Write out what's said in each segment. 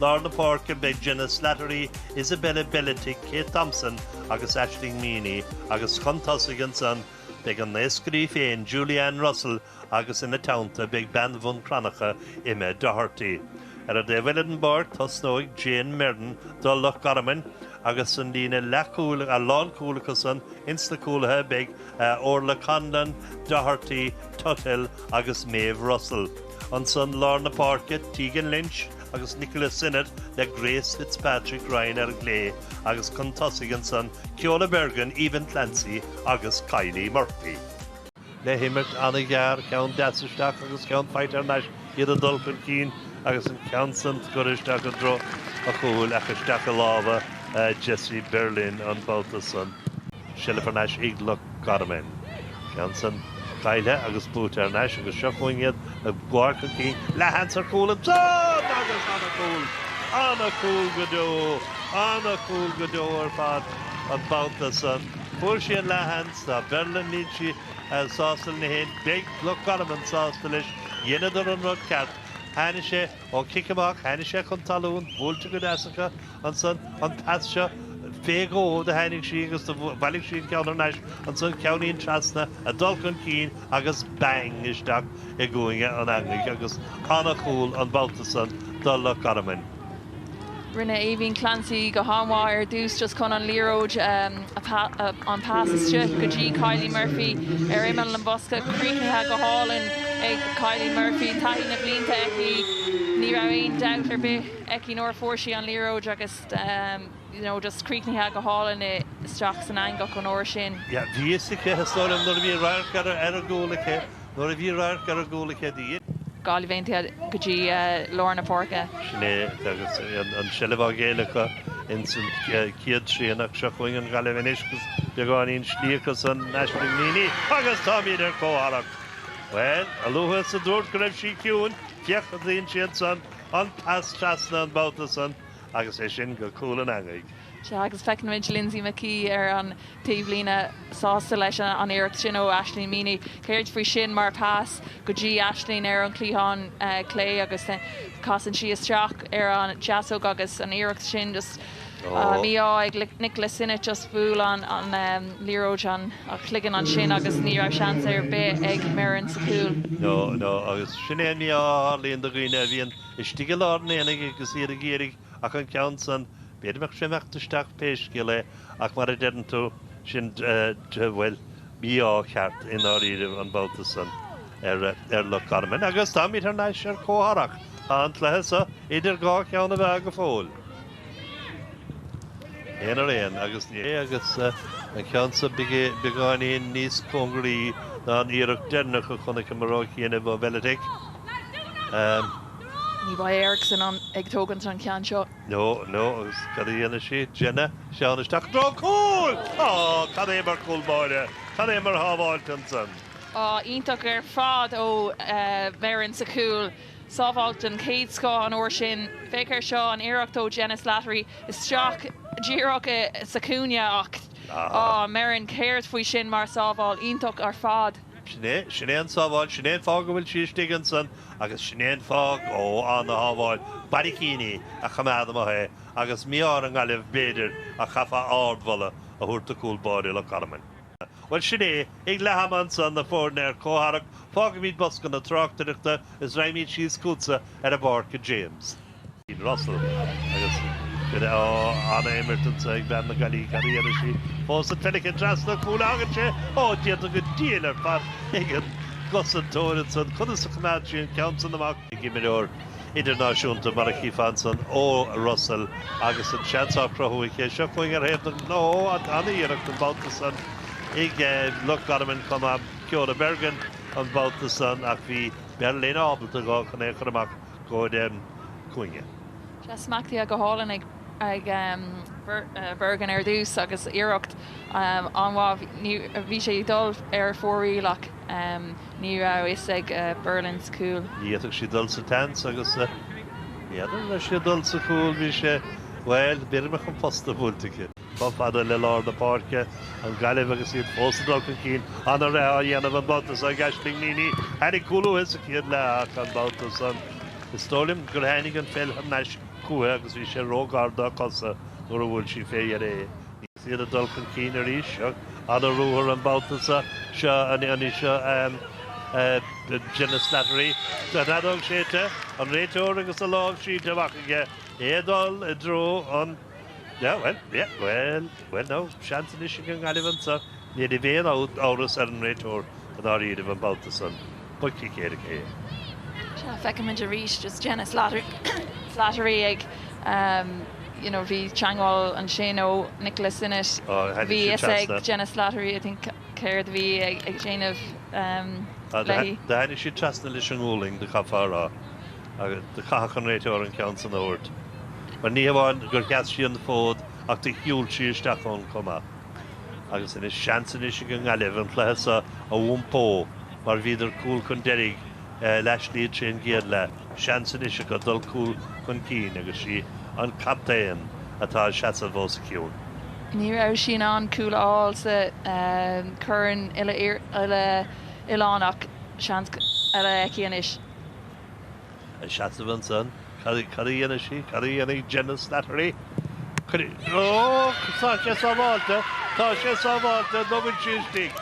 Lár na páirce beidh Jenna Slattery, Isabella Beletic, Kate Thompson agus Aisling Meaney agus chun tosaigh ansan beidh an naoscaire í féin Julie Ann Russell agus ina teannta beidh bean Bhun Cranncha, Emma Doherty. Ar an taobh eile den bpáirc tosnóidh Jayne Merren do Loch Garmain agus san líne leathchúil, lánchúil acusan, insna cúlaithe beidh Orlaith Conlon, Doherty, Tuthill agus Maeve Russell. Ansan lár na páirce Tegan Lynch, agus Nicola Sinnott le Grace Fitzpatrick-Ryan, ar an gclé, agus chun tosaigh ansan, Ceola Bergin, Aoibheann Clancy agus Kylie Murphy. le himirt an-ghearr, ceann deas isteach agus ceann faighte thar n-ais, iad ag dul chun cinn agus an ceann san curtha isteach i dtreo an chúil ach isteach i lámha Jessie Berlin an babhta san. Seilbh thar n-ais ag Loch Garman. Ceann san caillte agus buaite thar n-ais agus seo chugainn iad ag dul chun cinn. Leath-sheans ar chúl ansan agus an-chúl! An-chúl go deo! An-chúl go deo ar fad an babhta san. Fuair sí an leath-sheans, tá Berlin níl sí sásta lena fhéin. Beidh Loch Garman sásta leis. Dheineadar an rud ceart. Tháinig sé ó chic amach, tháinig sé chun talún, buailte go deas acu. ansan, an pas seo, fé dhó do tháinig sí agus do bhailig sí an ceann thar n-ais ansan, ceannín trasna, ag dul chun cinn agus bang isteach i gcúinne an eangaigh agus an-chúl an babhta san do Loch Garman. Rinne Aoibheann Clancy go han-mhaith ar dtús just chun an liathróid a, an pas isteach go dtí Kylie Murphy ar imeall an bhosca, críochnaithe go hálainn ag Kylie Murphy, taithí na blianta aici, ní raibh aon dabht ar bith. aici nuair a fuair sí an liathróid agus you know just críochnaithe go hálainn isteach san eangach an uair sin. Yeah bhí a fhios aici is dóigh liom nuair a bhí radharc ar an gcúl aici nuair a bhí radharc ar an gcúl aici the yeah. Gaillimh Aontaithe go dtí lár na páirce. Sin é agus an seilbh á ghéilleadh acu in san chéad trian ach seo chugainn an Ghaillimh anois agus beagáinín slí acusan Aisling Meaney agus táimid ar comhtharrac. Bhuel a luaithe is a dúirt go raibh sí ciúin, féach a dtuigeann siad san an pas trasna an babhta san agus é sin go cúl an eangaigh. Sea, agus feiceann muid Lynsey McKey ar an taobhlíne sásta leis an iarracht sin ó Aisling Meaney. Céard faoi sin mar pas go dtí Aisling ar an gcliathán clé agus casann sí isteach ar an deasóg agus an iarracht sin just. Mí-ádh ag Nicola Sinnott, just bhuail an liathróid an cloigeann ansin agus ní raibh seans ar bith ag Merren sa chúl. No, no, agus sin é an mí-ádh a tharlaíonn do dhaoine a bhíonn istigh i lár an aonaigh agus iad ag iarraidh ach an ceann san, b'fhéidir go mbeadh sé imeacht isteach pé scéal é ach mar a deireann tú, sin, bhuel, mí-ádh ceart i ndáiríribh an babhta san ar Loch Garman agus táimid thar n-ais ar comhtharrac, tá an cluiche so idir dhá cheann na meá go fóill. Aon ar aon, agus, agus an ceann so beagáinín níos cóngaraí ná an iarracht deireanach a chonaiceamar ó chianaibh ó Beletic. Ní bheidh Erickson ag tógaint an ceann seo. No, no, agus cad a dhéanfaidh sí? Jenna, téann isteach i dtreo cúil! Á, cad é mar chúl báire, cad é mar shábháilt ansan. Á, iontach ar fad ó Merren sa chúl. sábháil den chéad scoth an uair sin. Féach air seo, an iarracht ó Jenna Slattery isteach díreach sa chúinne ach, á, Merren, céard faoi sin mar sábháil iontach ar fad? Sin é, sin é an sábháil, sin é an fáth go bhfuil sí istigh ansan agus sin é an fáth, ó, an-shábháil, barraicíní a choimeád amach é agus mí-ádh ar an nGaillimh b'fhéidir ach chaithfeá ardmholadh a thabhairt do chúl báire Loch Garman. Bhuel, sin é. Ag leath ama ansan, na foirne ar comhtharrac, fágaimid bosca na tráchtaireachta is raghimid síos chugatsa ar an bpáirc a James. Russell, agus ó an-imirt anso ag bean na Gaillimhe cad a dhéanfaidh sí fós an pheil aici trasna cúil a thagann sé ó déanta go diail ar fad ag an gcosantóir ansan conas a choimeád sí an ceann san amach. Ag imreoir idirnáisiúnta mar a chífeá ansan Ó Russell agus an seans á chruthú aici. Seo chugainn ar thaobh na ngnó an-iarracht an babhta san ag Loch Garman chomh maith, Ceola Bergin an babhta san ach bhí Berlin ábalta dhá chun é a chur amach go cúinne. Sea, smachtaithe go hálainn ag Bergin ar dtús agus iarracht an-mhaith, bhí sé ag dul ar fóraoil ach. Ní raibh fhios ag Berlin sa chúl. Ní fhéadfadh sí dul sa tseans agus n'fheadar an raibh sé ag dul sa chúl. Bhí sé, bhuel, b'fhéidir go mbeadh an posta buailte aici. Chomh fada le lár na páirce, an Ghaillimh agus iad fós ag dul chun cinn. An-rith á dhéanamh an babhta seo ag Aislinn Meaney. Tháinig cúl uaithi sa chéad leath ach an babhta san, is dóigh liom gur tháinig an pheil thar n-ais chuici agus bhí sé ró-ghar dá cosa nuair a bhuail sí fé dheireadh é. Is iad ag dul chun cinn arís. An-ruathar an babhta seo. Seo anseo, Jenna Slattery. Tá an fheadóg séidte, an réiteoir agus a lámh sínte amach aige, é ag dul i dtreo an, yeah, bhuel, yeah, bhuel, bhuel now, seans anois ag an nGaillimh anseo. Ní raibh aon amhras ar an réiteoir i ndáiríribh an babhta san. Cic éirice é. Seo feicimid arís just Jenna Slattery ag you know bhí teangmháil ansin ó Nicola Sinnott bhí fhios ag Jenna Slattery I think céard a bhí ag déanamh. Do tháinig siad trasna leis an ngualainn do chaithfeá a rá agus do chaith an réiteoir an ceann san a thabhairt. Mar ní hamháin gur sheas sí an fód ach do shiúl sí isteach ann chomh maith. Agus anois seans anois ag an nGaillimh an cluiche seo a iompó mar bhíodar cúl chun deiridh le hais leis siúd sa gcéad leath. Seans anois acu dul cúl chun cinn agus sí an captaen atá ag seasamh os a chionn. Ní raibh sí in ann cúl a fháil sa chorn uile-oileánach seans eile aici anois. Ag seasamh ansan. Cad a dhéanfaidh sí? Cad a dhéanfaidh Jenna Slattery? Ó! Tá sé sábháilte! Tá sé sábháilte! Nó bhfuil sí istigh?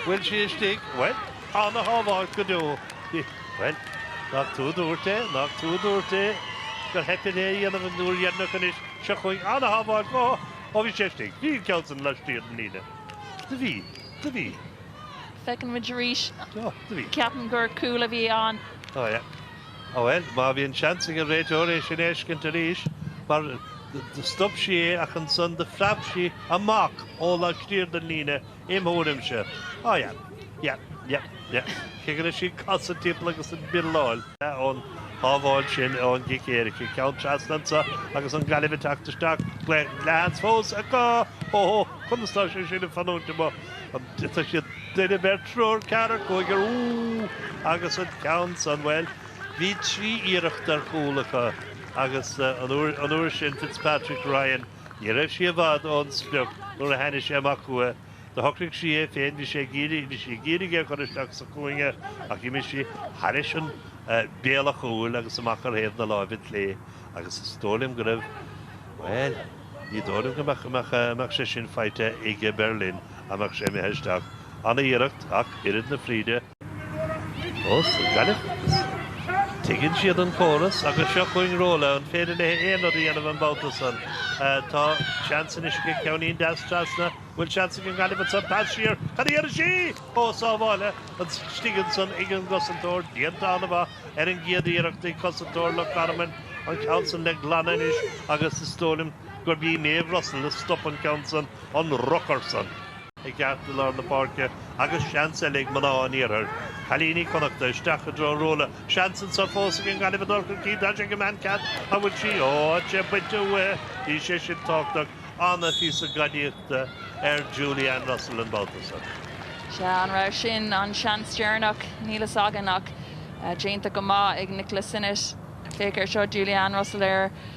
Bhfuil sí istigh? Bhuel, ana-shábháil go deo. Bhuel, nach tú a dúirt é? Nach tú a dúirt é gur theip uirthi é a dhéanamh an uair dheireanach anois? Seo chugainn. Ana-shábháil go. Ó bhí sé istigh. Bhí an ceann san laistigh den líne. Do bhí. Do bhí. Feicimid arís, ceapaim gur cúl a bhí ann. Ó yeah. Ó bhuel, má bhíonn seans ag an réiteoir é sin a fheiscint arís, mar do stop sí é ach ansan do phreab sí amach ó laistiar den líne im thuairimse. Ó yeah. Yeah. Yeah. Yeah. Cé go raibh sí ag casadh timpeall agus ag birleáil. ón shábháil sin ón gcic éirice. Ceann trasna anso agus an Gaillimh ag teacht isteach. An seans fós acu. Ho ho. Conas tá sé sin ag fanúint amuigh? Tá sé, duine, beirt, triúr, ceathrar, cúigear, úúú agus an ceann san, bhuel, bhí trí iarracht ar chúl acu agus an uair sin Fitzpatrick, Ryan, ní raibh sí i bhfad ón sprioc nuair a tháinig sé amach chuici, do shocraigh sí é féin, bhí sé ag iarraidh, bhí sí ag iarraidh é a chur isteach sa chúinne ach d'imigh sí thairis béal an chúil agus amach ar thaobh na láimhe clé agus is dóigh liom go raibh, bhuel, ní dóigh liom go mbeadh sé sin faighte ag Berlin. dá mbeadh sé imithe isteach. Ana-iarracht, ach oiread na fríde. Ós ag Gaillimh is tuigeann siad an córas agus seo chugainn Rola. An féidir léi aon rud a dhéanamh an babhta san? Tá seans anois aici. Ceannín deas trasna. An bhfuil seans ag an Gaillimh ansan? Pas siar. Cad a dhéanfaidh sí? Ó, sábháilte istigh ansan ag an gcosantóir. Déanta ana-mhaith ar an gcéad iarracht ag cosantóir Loch Garman. An ceann san le glanadh anois agus is dóigh liom gurb í Méabh Russell a stop an ceann san. an rocar san. i gceartlár na páirce agus seans eile ag mná an iarthair, cailíní Connachta, isteach i dtreo Ruela. Seans anseo fós ag an nGaillimh a dul chun cinn. Tá sé ag an mbean cheart a bhfuil sí ó é bainte uaithi. Bhí sé sin tábhachtach, an-phíosa gadaíochta ar Julie Ann Russell an babhta san. Sea, arbh in an seans deireanach? Níl a fhios againn ach déanta go maith ag Nicola Sinnott. Féach air seo, Julie Ann Russell ar.